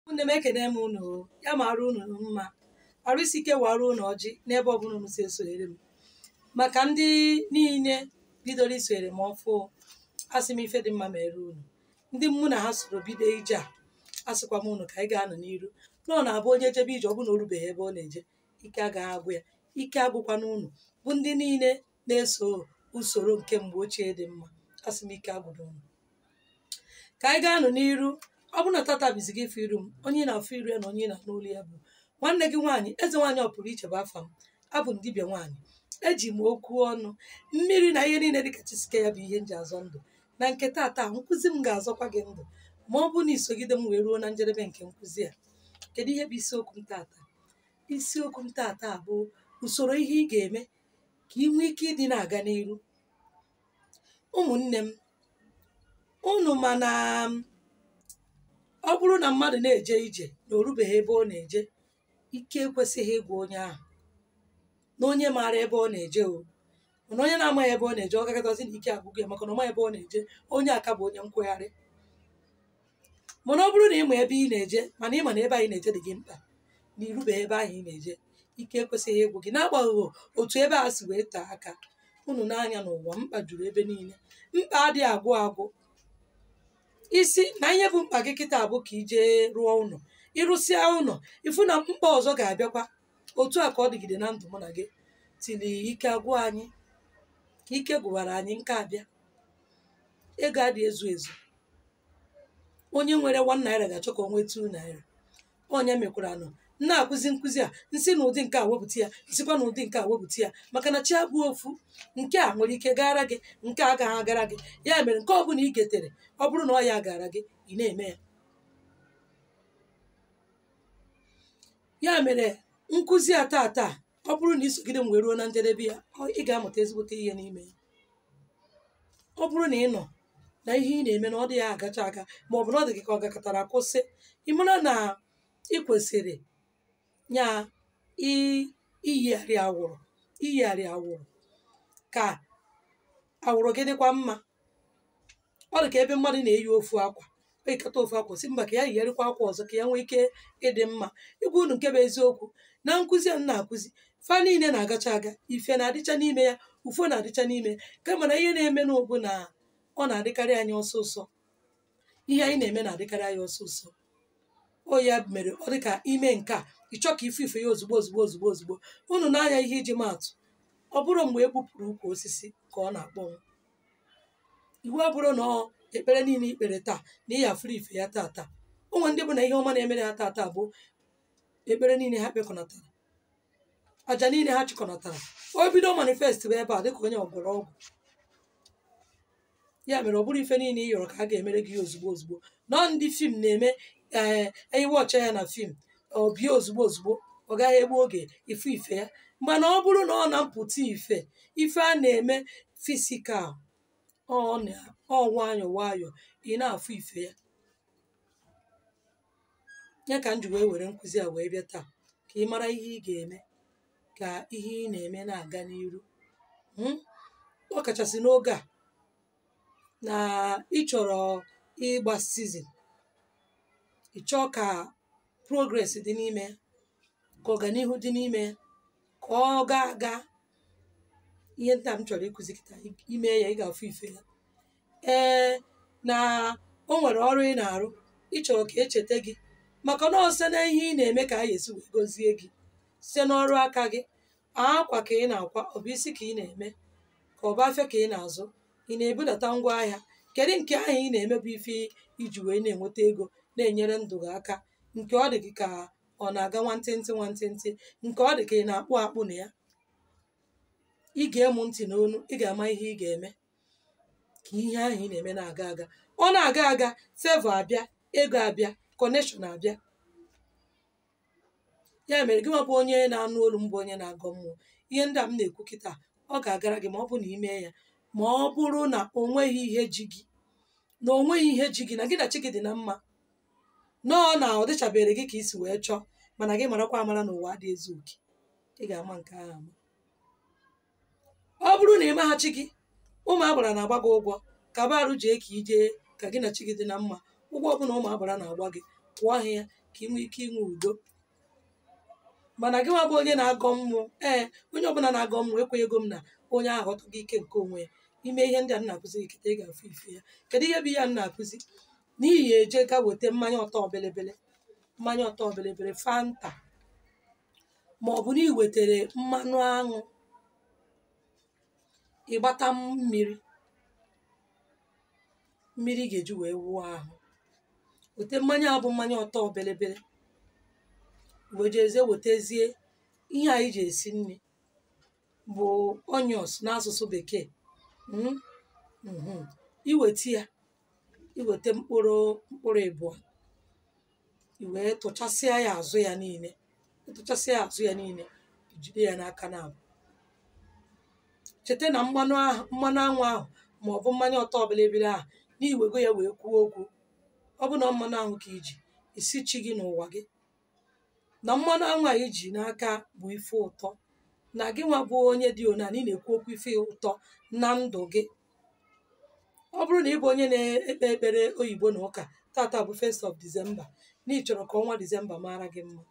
ụmụnne m ekene m unu o. ya mara unu mma arụ isi ike wara unu ọjị n'ebe ọbụla unu si esonyere m maka ndị niile bidoro isonyere m ọfụ asị m ife dị mma mere unu ndị mụ na ha soro bido ije a asịkwa m unu ka anyị gaa nụ n'iru na ọ na-abụ onye jebe ije ọ bụ na o rubeghị ebe ọ na-eje ike agaghị agwụ ya ike agwụkwana unu bụ ndị niile na-eso usoro nke mgbe ochie dị mma asị m ike agwụna unu ka anyị gaa nụ n'iru ọ bụrụ na tata bụ izizi gị ịfụ iru m onye ị na-afụ iru ya na onye ị na-anụ olu ya bụ nwanne gị nwaanyị eze nwaanyị ọ pụrụ iche bụ afa m abụ m dibịa nwaanyị eji m okwu ọnụ mmiri na ihe niile dịka chi si kee ya bụ ihe m ji azọ ndụ na nke tata nkụzi m ga-azọkwa gị ndụ ma ọ bụ na i sogide m wee ruo na njedebe nke nkụzi a kedu ihe bụ isiokwu m tata isiokwu m tata bụ usoro ihe ị ga-eme ka ị nwee ike ịdị na-aga n'iru ụmụnne m unu ma na ọ bụrụ na mmadụ na-eje ije na o rubeghị ebe ọ na-eje ike ekwesịghị ịgwụ onye ahụ na onye maara ebe ọ na-eje o mana onye na-amaghị ebe ọ na-eje ọ gakatazi na ike agwụgo ya maka na ọ maghị ebe ọ na-eje onye a ka bụ onye nkwụgharị mana ọ bụrụ na ị ma ebe ị na-eje mana ị ma na ebe anyị na-eje dị gị mkpa na i rubeghị ebe ahụ ị na-eje ike ekwesịghị ịgwụ gị n'agbanyeghị otu ebe a si wee tee aka unu nee anya n'ụwa mkpa juru ebe niile mkpa adịghị agwụ agwụ ị sị na ihe bụ mkpa gị kịta bụ ka i je rụọ ụlọ ị rụsịa ụlọ ị fụ na mkpa ọzọ ga-abịakwa otu a ka ọ dịgide na ndụ mụ na gị till ike agwụ anyị ka ike gwụwara anyị nka abịa ego adịghị ezu ezu onye nwere one naira ga-achọ ka o nwee two naira ọ ya mekwara nụ m na-akụzi nkụzi a m si na ụdị nke a wepụta ya m sikwa na ụdị nke a wepụta ya maka na chi abụghị ofu nke a nwere ike gara gị nke a agaghị agara gị ya mere nke ọ bụla i getere ọ bụrụ na ọ ya gara gị ị na-eme ya ya mere nkụzi a tata ọ bụrụ na i sogide m wee ruo na njedebe ya ọ- ị ga-amụta ezigbote ihe n'ime ya ọ bụrụ na ị nọ na ihe ị na-eme na ọ dịghị agacha aga ma ọ bụ na ọ dị gị ka ọ gakatara kwụsị ị mara na ị kwesịrị ya i- iyigharị awụrụ iyigharị awụrụ ka awụrụ gị dịkwa mma ọ dị ka ebe mmadụ na-eyi ofu akwa o yikata ofu akwa sị mba ka ya yigharịkwa akwa ọzọ ka ya nwee ike ịdị mma ịgwa unu nke bụ eziokwu na nkụzi a m na-akụzi fa niile na-agacha aga ife na-adịcha n'ime ya ufo na-adịcha n'ime kama na ihe na-eme nụ bụ na ọ na-adịkarị anyị ọsọ ọsọ ihe anyị na-eme na-adịkarị anyị ọsọ ọsọ o ya mere ọ dịka i mee nke a ị chọọ ka ị fụ ife ya ozugbo ozugbo ozugbo ozugbo unu nee anya ihe iji maa atụ ọ bụrọ mgbe e gbupụrụ ukwu osisi ka ọ na-akpọnwụ iwu abụrọ na ọ ekpere niile i kpere taa na ị ya-afụrụ ife ya taa taa o nwe ndị bụ na ihe ọma na-emere ha taa taa bụ ekpere niile ha kpekọnatara aja niile ha chịkọnatara o bido manifest wee bịa dịka onye ọ gwọrọ ọgwụ ya mere ọ bụrọ ife niile ị yọrọ ka a ga-emere gị ya ozugbo ozugbo na ọ ndị film na-eme ee anyị watch ya na film ọ bịa ozugbo ozugbo ọ gaghị egbu oge ị fụ ife ya mana ọ bụrụ na ọ na mpụta ife ife a na-eme physical ọ na- ọ nwayọ nwayọ ị na-afụ ife ya ya ka m ji wee were nkụzi a wee bịa taa ka ị mara ihe ị ga-eme ka ihe ị na-eme na-aga n'iru Mm? ọ kachasị n'oge a na ị chọrọ ịgba season ị chọọ ka progress dị n'ime ya ka ọganihu dị n'ime ya ka ọ gaa aga ihe nta m chọrọ ịkụzi kịta i mee ya ị ga-afụ ife ya ee na o nwere ọrụ ị na-arụ ị chọrọ ka e cheta gị maka na ọ sọ na ihe ị na-eme ka a ga-esi wee gọzie gị site n'ọrụ aka gị akwa ka ị na-akwa ọ bụ isi ka ị na-eme ka ọ bụ afịa ka ị na-azụ ị na-ebudata ngwa ahịa kedu nke ahụ ị na-eme bụ ife i ji wee na-enweta ego na-enyere ndụ gị aka nke ọ dị gị ka ọ na-aga nwantịntị nwantịntị nke ọ dị ka ị na-akpụ akpụ na ya i gee mụ ntị n'onu ị ga-ama ihe ị ga-eme ka ihe ahụ ị na-eme na-aga aga ọ na-aga aga favor abịa ego abịa connection abịa ya mere gị nwa bụ onye na-anụ olu m bụ onye na-agọ mmụọ ihe ndị a m na-ekwu kịta ọ ga-agara gị ma ọ bụrụ na i mee ya ma ọ bụrụ na o nweghị ihe ji gị na o nweghị ihe ji gị na gị na chi gị dị na mma na ọ na ọ dịchaberọ gị ka i si wee chọọ mana gị marakwa amara na ụwa adị ezu oke ị ga-ama nke ahụ ama ọ bụrụ na ị ma na chi gị ụmụ agbara na-agba gị ụgwọ kaba arụ jee ka i jee ka gị na chi gị dị na mma ụgwọ ọbụla ụmụ agbara na-agba gị kwụọ ha ya ka ị nwee ike inwe udo mana gị nwa bụ onye na-agọ mmụọ ee onye ọbụla na-agọ mmụọ ekwenyego m na onye ahụ ọtụghị ike nke onwe ya i mee ihe ndị a m na-akụzi gị kịta ị ga-afụ ife ya kedu ihe bụ ihe a m na-akụzi na ị ya-eje ga weta mmanya ọtọ belebele mmanya ọtọ belebele fanta ma ọ bụ na ị wetara mmanụ aṅụ ị gbata mmiri mmiri ị ga-eji wee wụọ ahụ weta mmanya a bụ mmanya ọtọ belebele wee jezie wetezie ihe anyị ji esi nri bụ onions n'asụsụ bekee Mm, mhm. i weta ya i weta mkpụrụ mkpụrụ ịbụọ i wee tụchasịa ya azụ ya niile ị tụchasịa ya azụ ya niile i jide ya n'aka naabụ cheta na mmanụ anwụ ahụ ma ọ bụ mmanya ọtọ bịlịbịlị ahụ n'iwego ya wee kwuo okwu ọ bụ na ọ mmanụ anwụ ka iji ị sị chi gị n'ụwa gị na mmanụ anwụ a iji n'aka bụ ife ụtọ na gị nwa bụ onye dị ona na ị na-ekwu okwu ife ụtọ na ndụ gị ọ bụrụ na ị bụ onye na-ekpe ekpere oyibo na ụka tata bụ 1st of December na ị chọrọ ka ọnwa December mara gị mma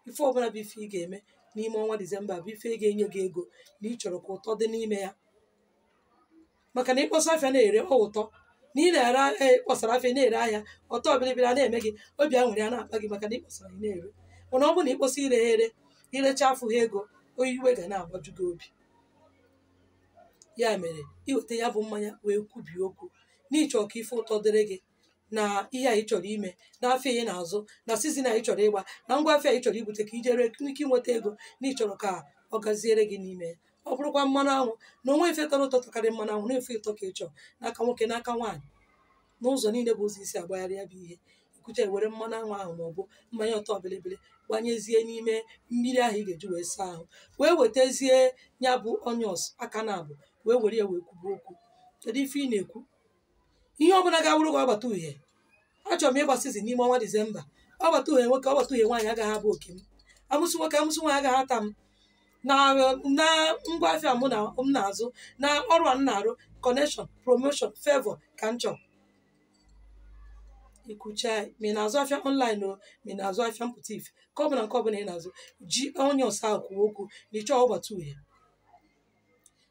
ife ọbụla bụ ife ị ga-eme n'ime ọnwa December bụ ife ga-enye gị ego na ị chọrọ ka ụtọ dị n'ime ya maka na ịkpọsa afịa na-ere ọ ụtọ na ị na-ere ahịa ịkpọsara afịa na-ere ahịa ọtọ bịrịbịrị a na-eme gị obi aṅụrị a na-akpa gị maka na ịkpọsara ị na-ere mana ọ bụrụ na ịkpọsa ireha ere irecha afụha ego ọ iwe ga na-agbaju gị obi ya mere iweta ya bụ mmanya wee kwubie okwu na ị chọrọ ka ife ụtọ dịrị gị na ihe a ị chọrọ ime na afịa ị na-azụ na sizin a ị chọrọ ịgba na ngwa afịa ị chọrọ ibute ka i jiri nwee ike inweta ego na ị chọrọ ka ọ gaziere gị n'ime ya ọ bụrụkwa mmanụ anwụ na o nwee ife tọrọ ụtọ tọkarị mmanụ anwụ na ife ụtọ ka ị chọrọ n'aka nwoke n'aka nwaanyị n'ụzọ niile bụ ụzọ i si agbagharị ya bụ ihe ikwucha were mmanụ anwụ ahụ ma ọ bụ mmanya ọtọ bịlịbịlị gbanyezie n'ime mmiri ahụ ị ga-eji wee saa ahụ wee wetazie ya bụ onions aka naabụ wee were ya wee kwube okwu kedu ife ị na-ekwu ihe ọbụla ga-awụrụ gị ọgbata uhie achọrọ m ịgba sizin n'ime ọnwa disemba ọgbata uhie nwoke ọgbata uhie nwaanyị agaghị abụ oke m amusu nwoke amusu nwaanyị agaghị ata m na ngwa afịa m na-azụ na ọrụ a m na-arụ connection promotion favor ka m chọrọ ikwucha ma ị na-azụ afịa online o ma ị na-azụ afịa mpụta ife ka ọ bụla nke ọbụla ị na-azụ ji onions ahụ kwuo okwu na ịchọọ ọgbata uhie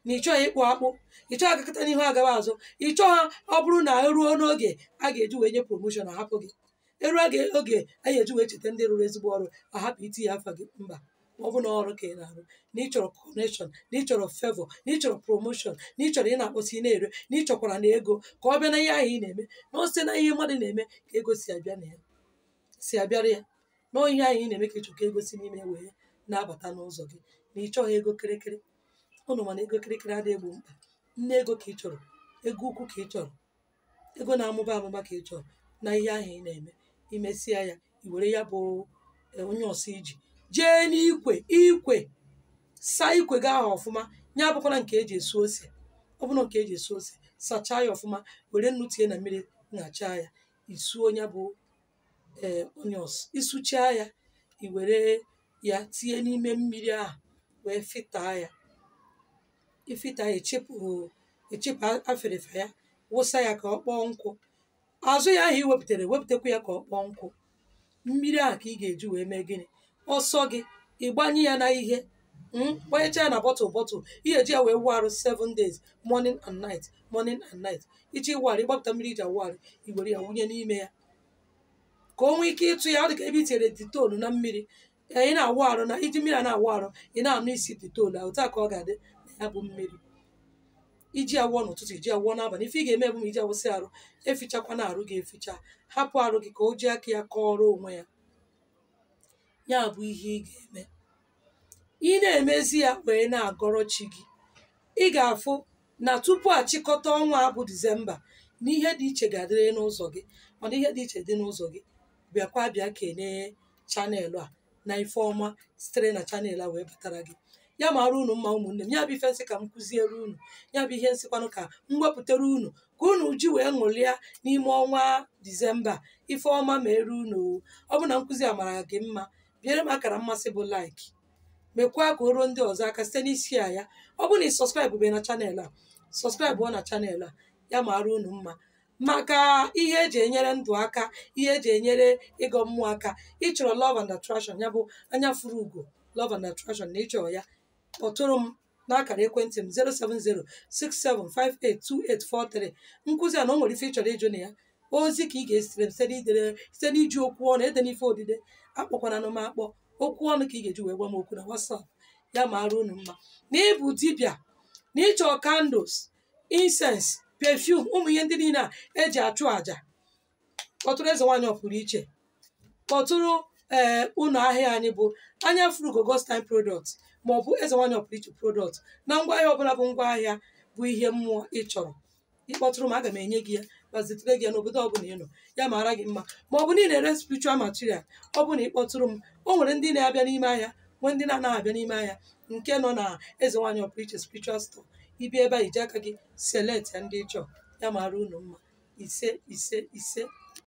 na ịchọọ ịkpụ akpụ ịchọọ agakọta n'ihu agawa azụ ịchọọ ha ọ bụrụ na eruo n'oge a ga-eji wee nye promotion ahapụ gị eruo oge a ga-eji wee cheta ndị rụrụ ezigbo ọrụ ahapụ itinye afa gị mba ọ bụ na ọrụ ka ị na-arụ na ị chọrọ connection na ị chọrọ favor na ị chọrọ promotion na ị chọrọ ị na-akpọsa ị na-ere na ị chọkwara na ego ka ọ bịa na ihe ahụ ị na-eme na o site na ihe mmadụ na-eme ka ego si abịara ya na ọ ihe ahụ ị na-eme ka ị chọrọ ka ego si n'ime ya wee na-abata n'ụzọ gị na ị chọghị ego kịrịkịrị ụnụ ma na ego kịrịkịrị adịghị egbo mkpa nne ego ka ị chọrọ ego ukwu ka ị chọrọ ego na-amụba amụba ka ị chọrọ na ihe ahụ ị na-eme imesịa ya i were ya bụ eh, onions iji jee n'ikwe ikwe saa ikwe gị ahụ ọfụma ya abụkwala nke eji esu ose ọ bụrụ nke eji esu ose sachaa ya ọfụma were nnu tinye na mmiri ṅachaa ya isuo ya bụ ee onions isuchaa ya i were ya tinye n'ime mmiri ahụ wee fịtaa ya ifita echepụ echepụ afịrịfa ya wụsa ya ka ọ kpọọ nkụ azụ ya ahụ i wepụtara wepụtakwa ya ka ọ kpọọ nkụ mmiri ahụ ka ị ga-eji wee mee gịnị ọsọ gị ịgbanye ya na ihe mm, gbanyecha ya na bọtụl bọtụl ị ga-eji ya wee wụ arụ 7 days morning and night morning and night ịchọ ịwụ arụ ịgbapụta mmiri iji awụ arụ i were ya wụnye n'ime ya ka o nwee ike ịtụ ya ọ dị ka ebe i tinyere detol na mmiri ee, ị na-awụ arụ na iji mmiri a na-awụ arụ ị na-anụ isi detol a otu a ka ọ ga-adị na ya bụ mmiri iji ya wụọ n'ụtụtụ iji ya wụọ n'abalị ife ị ga-eme bụ ma iji ya wụsịa arụ efichakwana arụ gị eficha hapụ arụ gị ka o ji aka ya kọọrọ onwe ya ya bụ ihe ị ga-eme ị na-emezi ya wee na-agọrọ chi gị ị ga-afụ na tupu achịkọta ọnwa a bụ disemba na ihe dị iche ga-adịrị n'ụzọ gị mana ihe dị iche dị n'ụzọ gị bịakwa bịa kenee chanel a na ife ọma sitere na chanel a wee batara gị ya mara unu mma ụmụnne m ya bụ ife m sị ka m kụziere unu ya bụ ihe m sịkwanụ ka m wepụtara unu ka unu ji wee ṅụrịa n'ime ọnwa disemba ife ọma meere unu o. ọ bụ na nkụzi a mara gị mma biere m akara mmasị bụ like mekwaa ka o ruo ndị ọzọ aka site n'ịshare ya ọ bụ na ị sọskraịbụbe na chanel a sọskraịbụọ na chanel a ya mara unu mma maka ihe eji enyere ndụ aka ihe eji enyere ịgọ mmụọ aka ịchọrọ love and attraction ya bụ anya furu ugo love and attraction na ịchọrọ ya kpọtụrụ m n'akara ekwentị m 07067582843 nkụzi a na o nwere ife ịchọrọ ịjụ na ya ozi ka ị ga-ezitere m site n'idere site n'iji okwu ọnụ edena ife odide akpọkwananụ m akpọ okwu ọnụ ka ị ga-eji wee gwa m okwu na WhatsApp ya mara unu mma na ịbụ dibịa na ịchọ candles incense perfume ụmụ ihe ndị niile a eji achụ àjà kpọtụrụ eze nwaanyị ọpụrụ iche kpọtụrụ ee ụlọ ahịa anyị bụ anya furu ugo God's time product ma ọ bụ eze nwaanyị ọpụrụ iche product na ngwa ahịa ọbụla bụ ngwa ahịa bụ ihe mmụọ ị chọrọ ịkpọtụrụ m aga m enye gị ya ma zitere gị ya n'obodo ọbụla ị nọ ya mara gị mma ma ọ bụ ndị na-ere spiritual material ọ bụ na ịkpọtụrụ m o nwere ndị na-abịa n'ime ahịa nwee ndị na-anaghị abịa n'ime ahịa nke nọ na eze nwaanyị ọpụrụ iche spiritual store ị bịa ebe a iji aka gị select ya ndị ịchọ ya mara unu mma ise ise ise